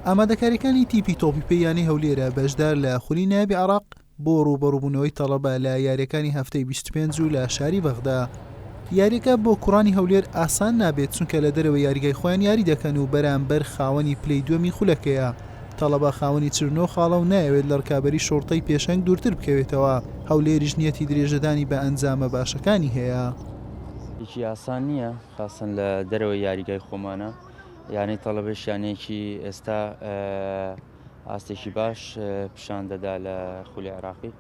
ئامادەکارییەکانی تیپی تۆپی پێی یانەی هەولێرە بەشدار لە خولی نایابی عراق بۆ ڕووبەڕووبوونەوەی تەڵەبە لە یاریەکانی هەفتەی 25 و لە شاری بەغدا یاریەکە بۆ کوڕانی هەولێر ئاسان نابێت چونکە لە دەرەوە یاریگای خۆیان یاری دەکەن و بەرامبەر خاوەنی پلی دووەمی خولەکەیە تەڵەبە خاوەنی چرنۆ خاڵە و نایەوێت لە ڕکابی شۆڕتەی پێشەنگ دوورتر بکەوێتەوە هەولێریش نیەتی درێژەدانی بە ئەنجامە باشەکانی هەیە. یکی ئاسان نییە. خاستن لە دەرەوەی یاریگای خۆمانە، یانەی تەڵەبەیش یانەیەکی ئێستا ئاستێکی باش پیشان دەدا لە خولی عێراقی.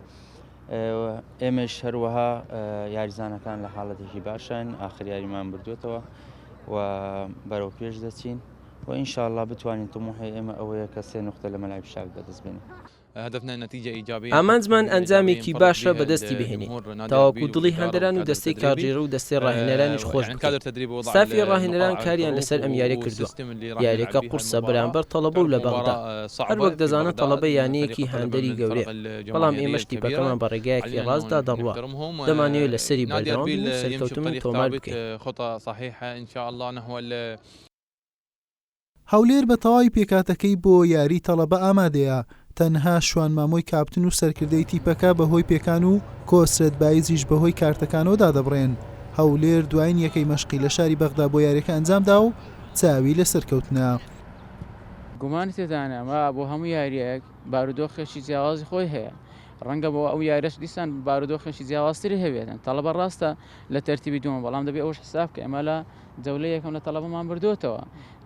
ئێمەش هەروەها یاریزانەکان لە حاڵەتێکی باشن، ئاخر یاریمان بردوێتەوە و بەرەو پێش دەچین و ئینشاءاللە بتوانین تموحی ئێمە ئەوەیە کە سێ نوختە لە مەلای پیشاک بەدەست بێنین. ئامانجمان ئەنجامێکی باشە بەدەستی بهێنین تاوەکو دڵی هاندەران و دەستەی کارگێڕ و دەستەی راهێنەرانیش خۆش بکەین، ستافی راهێنەران کاریان لەسەر ئەم یاریە کردووە، یاریەکە قورسە بەرامبەر تەڵەبە و لە بەغدا، هەروەک دەزانن تەڵەبە یانەیەکی هاندەری گەورەیە، بەڵام ئێمەش تیپەکەمان بە رێگایەکی راستدا دەڕوات، دەمانەوێت لەسەری بەردەوام بین و سەرکەوتن تۆمار بکەین. هەولێر بە تەواوی پێکهاتەکەی بۆ یاری تەڵەبە ئامادەیە، تەنها شوان مامۆی کاپتن و سەرکردەی تیپەکە بەهۆی پێکان و کۆسرەت بایزیش بەهۆی کارتەکانەوە دادەبڕێن، هەولێر دوایین یەکەی مەشقی لە شاری بەغدا بۆ یاریەکە ئەنجامدا و چاوی لە سەرکەوتنە. گومانی تێدانە ئەمە بۆ هەموو یاریەک بارودۆخێکی جیاوازی خۆی هەیە، ڕەنگە بۆ ئەو یاریەش دیسان بارودۆخێکی جیاوازتری هەبێت، تەڵەبە ڕاستە لە تەرتیبی دووەمە، بەڵام دەبێت ئەوەش حساب بکەین ئەمە لە جەولەی یەکەم لە تەڵەبەمان بردووەتەوە،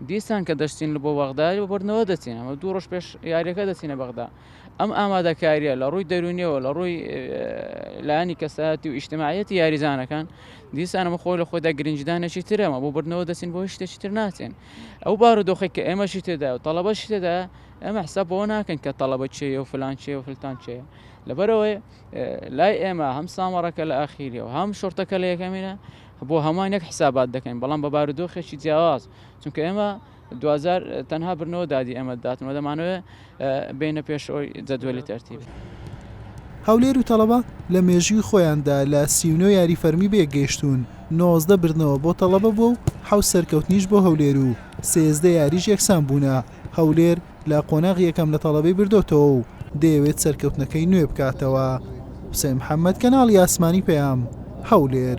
دیسان کە دەچین بۆ بەغدا بۆ بردنەوە دەچین، ئەمە دوو ڕۆژ پێش یارییەکە دەچینە بەغدا. ئەم ئامادەکارییە لە ڕووی دەروونییەوە، لە ڕووی لایەنی کەسایەتی و ئیجتماعییەتی یاریزانەکان، دیسان ئەمە خۆی لە خۆیدا گرنگیدانێکی ترە، ئەمە بۆ بردنەوە دەچین بۆ هیچ شتێکی تر ناچین. ئەو بارودۆخەی کە ئێمەشی تێدایە و تەڵەبەشی تێدایە، ئێمە حساب بەوە ناکەین کە تەڵەبە کێیە و فلان کێیە و فلتان کێیە. لەبەر ئەوەی لای ئێمە هەم سامەڕەکە لە ئاخیرییە و هەم شوڕتەکە لە یەکەمینە، بۆ هەمووان یەک حسابات دەکەین، بەڵام بە بارودۆخێکی جیاواز، چونکە ئێمە دواجار تەنها بردنەوە دادی ئێمە دەداتن و دەمانەوێت بێینە پێشەوەی جەدوەلی تەرتیب. هەولێر و تەڵەبە لە مێژووی خۆیاندا لە سی و نۆ یاری فەرمی بەیەکگەیشتوون، نۆزدە بردنەوە بۆ تەڵەبە بووە و حەوت سەرکەوتنیش بۆ هەولێر و سێزدە یاریش یەکسان بوونە، هەولێر لە قۆناغی یەکەم لە تەڵەبەی بردۆتەوە و دەیەوێت سەرکەوتنەکەی نوێ بکاتەوە. حوسێن محەمەد، کەناڵی ئاسمانی پەیام، هەولێر.